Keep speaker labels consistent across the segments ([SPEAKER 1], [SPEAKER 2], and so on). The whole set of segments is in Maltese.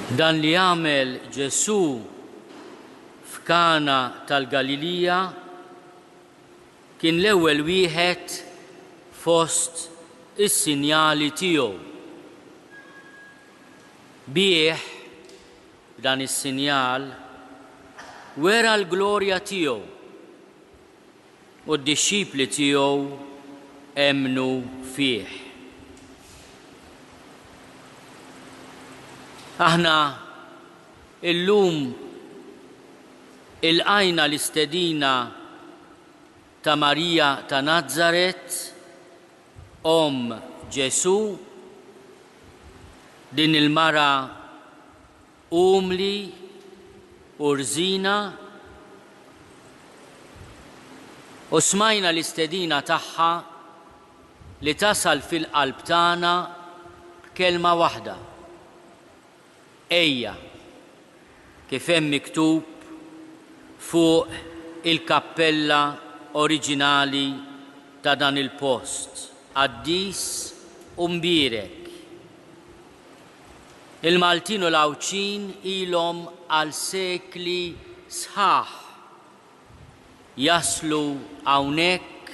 [SPEAKER 1] Dan li għamel Ġesù f'Kana tal-Galilija kien l-ewwel wieħed fost is-sinjali tiegħu. Bih, b'dan is-sinjal, wera l-glorja tiegħu. u d-dixxipli tiegħu emmnu fih. Aħna llum ilqajna l-istedina ta' Marija ta' Nazaret, omm Ġesù, din il-mara Umli u rżina u smajna l-istedina tagħha li tasal fil-qalb tagħna b'kelma waħda, Ejja, kif hemm miktub fuq il-kappella oriġinali ta' dan il-post, Qaddis u Mbierek. Il-Maltin u l-Għawdxin ilhom għal sekli sħaħ jaslu hawnhekk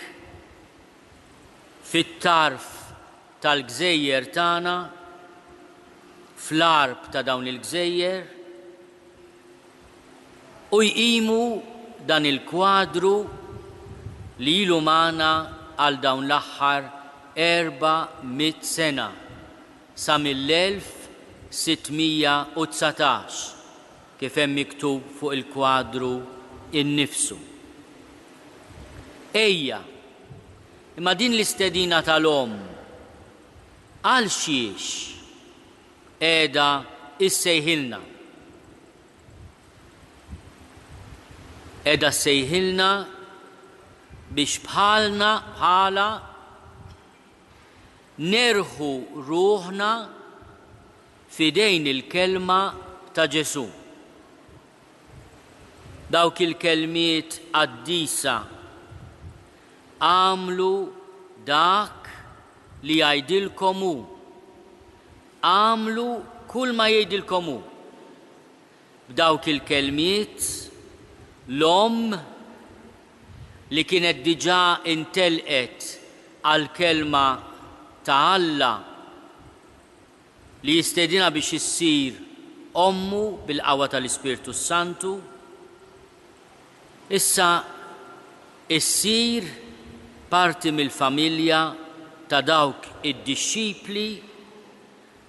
[SPEAKER 1] fit-tarf tal-gżejjer tagħna, fl-għarb ta' dawn il-gżejjer, u jqimu dan il-kwadru li ilu magħna għal dawn l-aħħar erba' mitt sena. sa mill-1619, kif hemm miktub fuq il-kwadru innifsu. Ejja, imma din l-istedina tal-omm għalxiex qiegħda issejħilna? Qiegħda ssejħilna biex bħalna, bħalha, Nerħu ruħna f'idejn il-kelma ta' Ġesù. Dawk il-kelmiet qaddisa Agħmlu dak li jgħidilkom hu. Agħmlu kull ma jgħidilkom hu. B'dawk il-kelmiet, l-omm, li kienet diġà intelqet għall-Kelma ta' Alla li jistedinha biex issir ommu bil-qawwa tal-Ispirtu s-Santu, issa ssir parti mill-familja ta' dawk id-dixxipli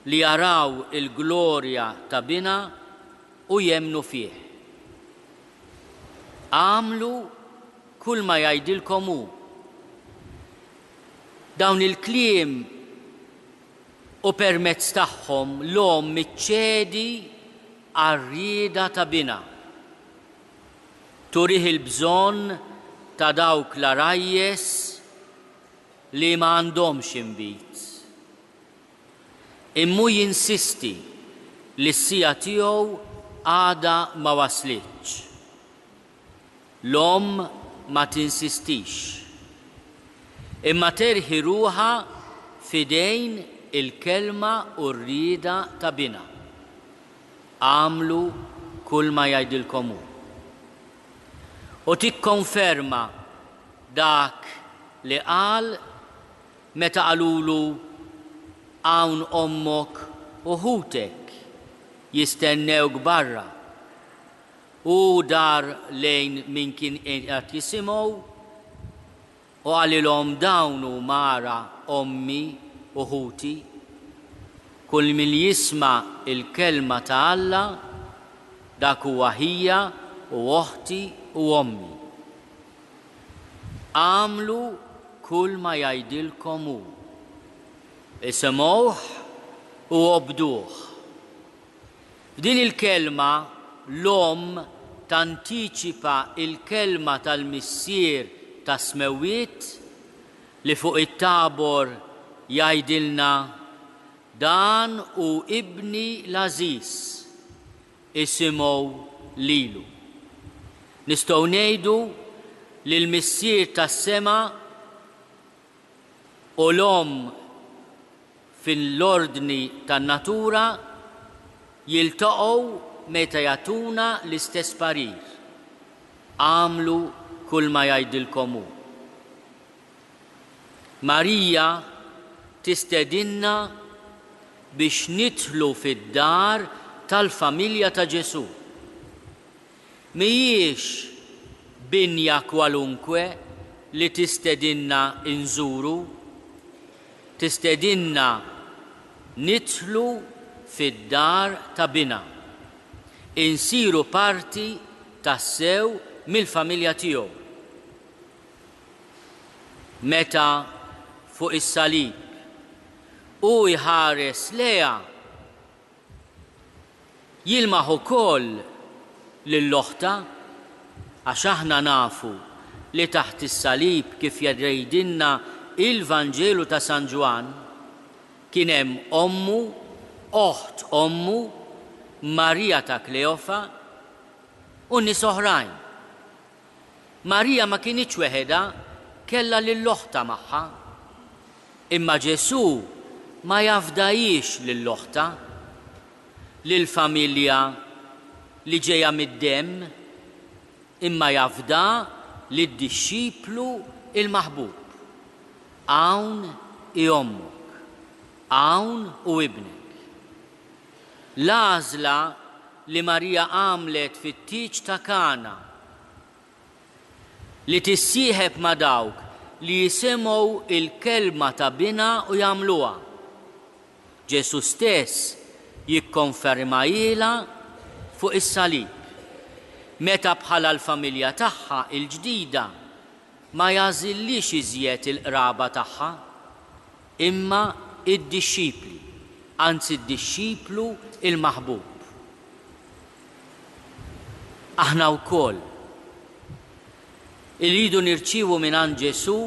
[SPEAKER 1] li jaraw il-glorja ta' Binha u jemmnu fih. Agħmlu kulma jgħidilkom hu. Dawn il-kliem u permezz tagħhom l-omm iċċedi għar-rieda ta' binha. Turih il-bżonn ta' dawk l-għarajjes li ma għandhomx inbid. Immu jinsisti li s-siegħa tiegħu għadha ma waslitx. L-omm ma tinsistix. Imma terħi ruħha f'idejn il-kelma u r-rieda ta' binha. Agħmlu kulma jgħidilkom hu. U tikkonferma dak li qal Meta qalulu, Hawn ommok u ħutek jistennewk barra, hu dar lejn min kien qiegħed jisimgħu u qalilhom dawn huma ara ommi u ħuti. Kull min jisma' l-kelma ta' Alla, dak huwa ħija u oħti u ommi. Agħmlu kulma jgħidilkom hu. Isimgħuh u obduh. F'din il-kelma, l-Omm tantiċipa l-kelma tal-Missier tas-Smewwiet li fuq it-Tabor jgħidilna, Dan hu Ibni l-għażiż. isimgħu lilu. Nistgħu ngħidu li l-Missier tas-sema u l-Omm fil-ordni tan-natura jiltaqgħu meta jagħtuna l-istess parir, Agħmlu kulma jgħidilkom hu. Marija tistedinna biex nidħlu fid-dar tal-familja ta' Ġesù. Mhijiex binja kwalunkwe li tistedinna nżuru. Tistedinna nidħlu fid-dar ta' Binha, insiru parti tassew mill-familja tiegħu. Meta, fuq is-salib, hu jħares lejha, jilmaħ ukoll lil oħtha, għax aħna nafu li taħt is-salib, kif jgħidilna l-Vanġelu ta' San Ġwann, kien hemm ommu, oħt ommu, Marija ta' Kleofa, u nies oħrajn. Marija ma kinitx weħidha, kellha lil oħtha magħha. Imma Ġesù ma jafdahiex lil oħtha, lill-familja li ġejja mid-demm, imma jafda lid-dixxiplu l-maħbub. Hawn hi ommok. Hawn hu ibnek. L-għażla li Marija għamlet fit-tieġ ta' Kana, li tissieħeb ma' dawk li jisimgħu l-kelma ta' Binha u jagħmluha, Ġesù stess jikkonfermahilha fuq is-salib, meta bħala l-familja tagħha l-ġdida ma jagħżilhiex iżjed il-qraba tagħha. Imma id-dixxipli, anzi d-dixxiplu l-maħbub. Aħna wkoll irridu nirċievu mingħand Ġesù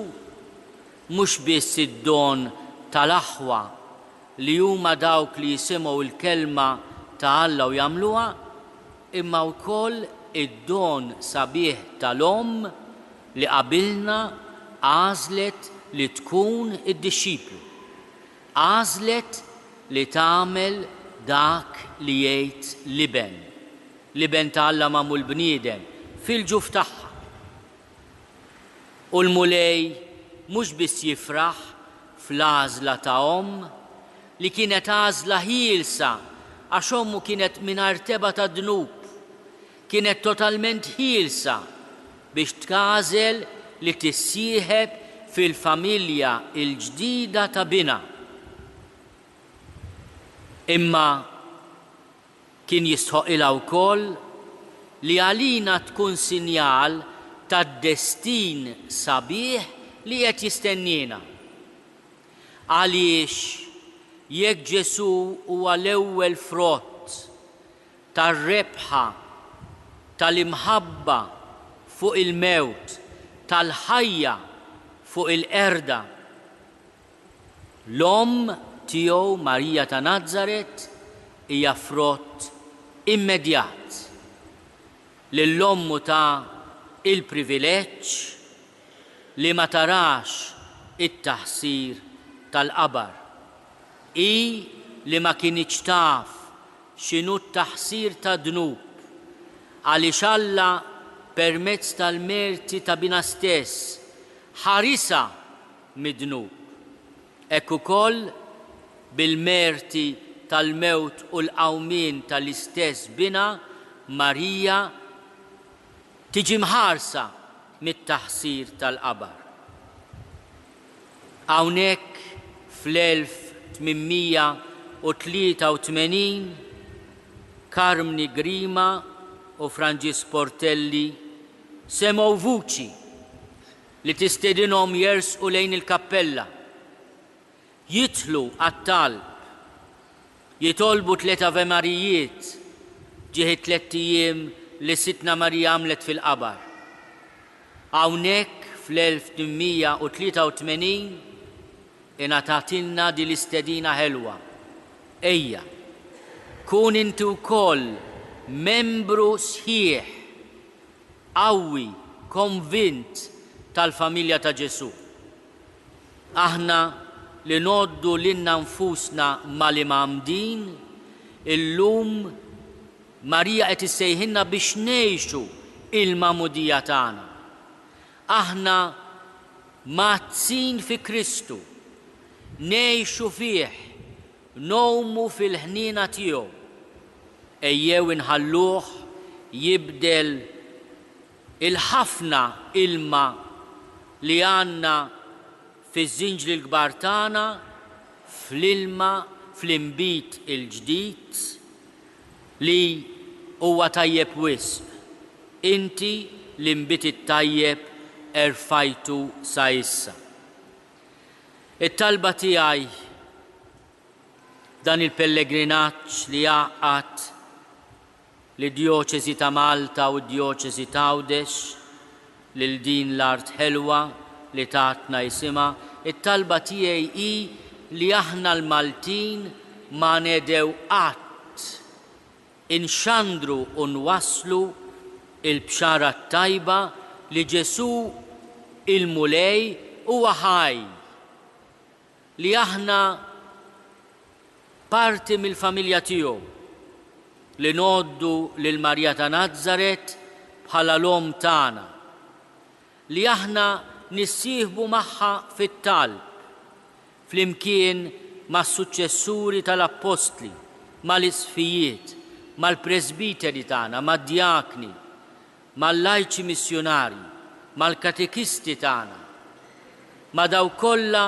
[SPEAKER 1] mhux biss id-don tal-aħwa li huma dawk li jisimgħu l-kelma ta' Alla u jagħmluha, imma wkoll id-don sabiħ tal-omm li qabilna għażlet li tkun id-dixxiplu, għażlet li tagħmel dak li jgħid l-Iben, l-Iben ta' Alla magħmul bniedem, fil-ġuf tagħha. U l-Mulej mhux biss jifraħ fl-għażla ta' omm, li kienet għażla ħielsa għax ommu kienet mingħajr tebgħa ta' dnub, kienet totalment ħielsa biex tagħżel li tissieħeb fil-familja l-ġdida ta' binha. Imma kien jistħoqqilha wkoll li għalina tkun sinjal tad-destin sabiħ li qed jistenniena. Għaliex jekk Ġesù huwa l-ewwel frott, tar-rebħa, tal-imħabba fuq il-mewt, tal-ħajja fuq il-qerda. L-Omm tiegħu Marija ta' Nazaret hija frott immedjat li l-Ommu ta il-privileġġ li ma tarax it-taħsir tal-qabar. Hi li ma kinitx taf x'inhu t-taħsir tad-dnub, għaliex Alla permezz tal-merti ta' Binha stess ħarisha mid-dnub. Hekk ukoll, bil-merti tal-mewt u l-qawmien tal-istess Binha, Marija tiġi mħarsa mit-taħsir tal-qabar. Hawnhekk fl-1883 Carmni Grima u Franġisk Portelli semgħu vuċi li tistedinhom jersqu lejn il-kappella. Jidħlu għat-talb, jitolbu tliet Avemarijiet ġieħ it-tlett ijiem li Sidtna Marija għamlet fil-qabar. Hawnhekk fl-1883 ingħatatilna din l-istedina ħelwa, Ejja, kun inti wkoll membru sħiħ, qawwi, konvint tal-familja ta' Ġesù. Aħna li ngħoddu lilna nfusna mal-Imgħammdin, illum Marija qed issejħilna biex ngħixu l-magħmudija tagħna. Aħna mgħaddsin fi Kristu, ngħixu fih, ngħumu fil-ħniena tiegħu. Ejjew inħalluh jibdel Il-ħafna ilma li għandna fiż-żinġli l-kbar tagħna fl-ilma fl-inbid il-ġdid li huwa tajjeb wisq, inti l-inbid it-tajjeb erfajtu sa issa. It-talba tiegħi f'dan il-pellegrinaġġ li jgħaqqad lid-Djoċesi ta' Malta u d-Djoċesi t'Għawdex, lil din l-art ħelwa li tatna isimha, it-talba tiegħi hi li aħna l-Maltin ma nedhew qatt inxandru u nwasslu l-Bxara t-Tajba li Ġesù il-Mulej huwa ħaj! li aħna parti mill-familja tiegħu, li ngħoddu lil Marija ta' Nazaret bħala l-Omm tagħna, li aħna nissieħbu magħha fit-talb, flimkien mas-suċċessuri tal-Appostli, mal-Isqfijiet, mal-Presbiteri tagħna, mad-Djakni, mal-lajċi missjunarji, mal-katekisti tagħna, ma' dawk kollha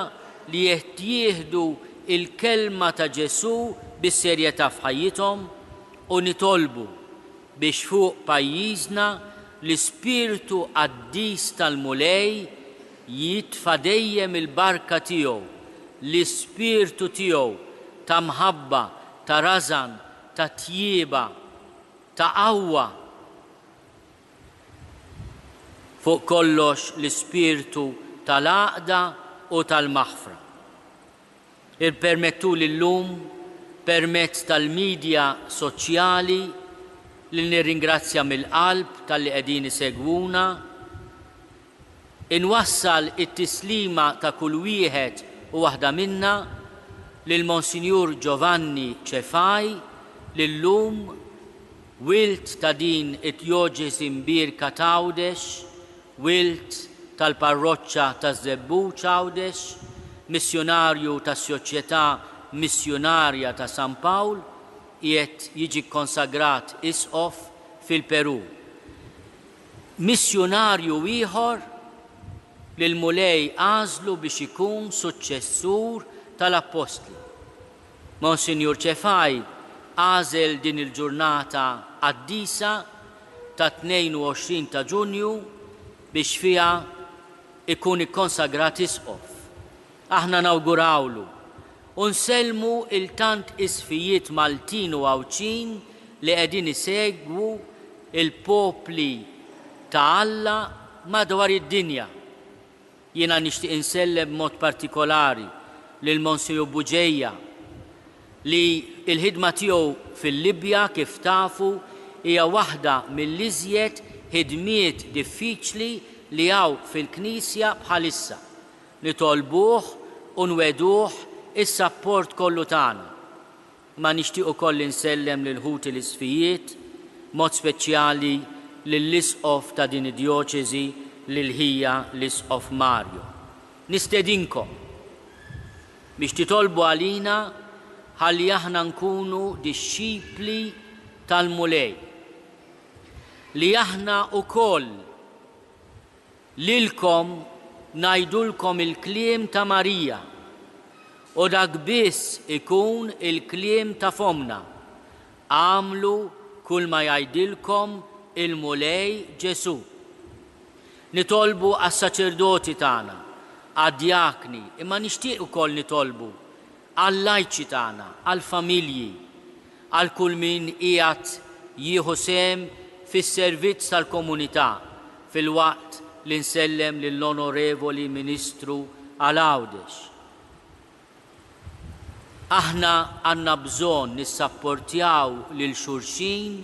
[SPEAKER 1] li qed jieħdu l-kelma ta' Ġesù bis-serjetà f'ħajjithom u nitolbu biex fuq pajjiżna l-ispirtu qaddis tal-Mulej jitfa' dejjem il-barka tiegħu, l-ispirtu tiegħu ta' mħabba, ta' rażan, ta' tjieba. ta' qawwa, fuq kollox l-ispirtu tal-għaqda u tal-maħfra. Ippermettuli llum, permezz tal-midja soċjali, li nirringrazzja mill-qalb talli qegħdin isegwuna, Inwassal it-tislima ta' kull wieħed u waħda minna lil Monsinjur Giovanni Cefai li llum, wild ta' din id-djoċesi mbierka t'Għawdex, wild tal-parroċċa taż-Żebbuġ Għawdex, missjunarju tas-Soċjetà Missjunarja ta' San Pawl, qiegħed jiġi kkonsagrat Isqof fil-Perù. Missjunarju ieħor li l-Mulej għażlu biex ikun suċċessur tal-Appostli. Monsinjur Cefai għażel din il-ġurnata qaddisa tat-22 ta' Ġunju biex fiha jkun ikkonsagrat Isqof. Aħna nawgurawlu u nsellmu il-tant isfijiet Maltin u Għawdxin li qegħdin isegwu l-popli ta' Alla madwar id-dinja. Jiena nixtieq insellem b'mod partikolari lil Monsinjur Bugeja li l-ħidma tiegħu fil-Libja kif tafu hija waħda mill-iżjed ħidmiet diffiċli li hawn fil-Knisja bħalissa. Nitolbuh u nwegħduh is-sapport kollu tagħna, imma nixtieq ukoll insellem lil ħuti l-Isqfijiet, b'mod speċjali lill-Isqof ta' din id-djoċesi l-Ilħija l-Isqof Mario. Nistedinkom biex titolbu għalina ħalli aħna nkunu dixxipli tal-Mulej, li aħna ukoll Lilkom ngħidulkom il-kliem ta' Marija, u dak biss ikun il-kliem ta' fommna, agħmlu kulma jgħidilkom il-Mulej Ġesù. Nitolbu għas-saċerdoti tagħna, għad-djakni, imma nixtieq ukoll nitolbu għall-lajċi tagħna, għall-familji, għal kull min qiegħed jieħu sehem fis-servizz tal-komunità, filwaqt li nsellem lill-Onorevoli Ministru għal Għawdex. Aħna għandna bżonn nissapportjaw lil xulxin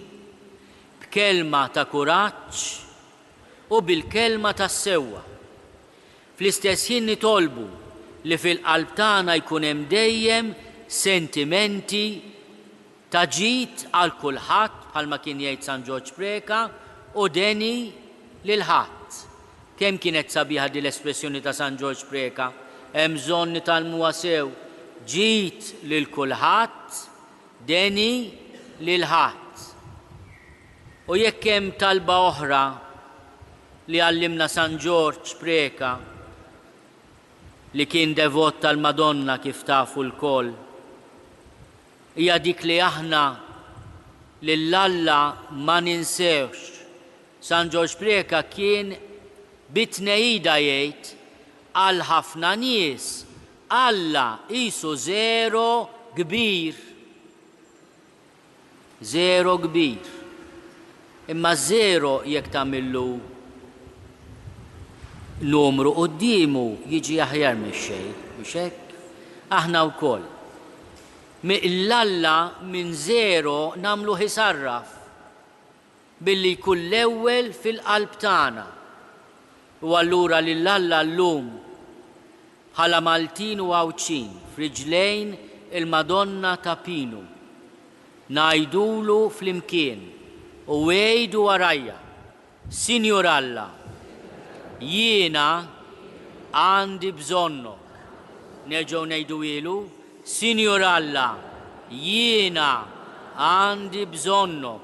[SPEAKER 1] b'kelma ta' kuraġġ u bil-kelma tas-sewwa. Fl-istess ħin nitolbu li fil-qalb tagħna jkun hemm dejjem sentimenti ta' ġid għal kulħadd, bħalma kien jgħid San Ġorġ Preca, u deni lil ħadd. Kemm kienet sabiħa din l-espressjoni ta' San Ġorġ Preca, hemm bżonn nitgħallmuha sew, Ġid lil kulħadd, deni lil ħadd. U jekk hemm talba oħra li għallimna San Ġorġ Preca li kien devot tal-Madonna kif tafu lkoll, hija dik li aħna lil Alla ma ninsewhx. San Ġorġ Preca kien bi tneida jgħid, għal ħafna nies Alla qisu żero kbir. Żero kbir. Imma żero jekk tagħmillu numru quddiemu jiġi aħjar mix-xejn, mhux hekk? Aħna wkoll. Mill-Alla minn żero nagħmluh isarraf. Billi jkun l-ewwel fil-qalb tagħna. U allura lil Alla llum bħala Maltin u Għawdxin f'riġlejn il-Madonna ta' Pinu ngħidulu flimkien u għidu warajja, Sinjur Alla, jiena għandi bżonnok. Nerġgħu ngħiduhielu, Sinjur Alla, jiena għandi bżonnok.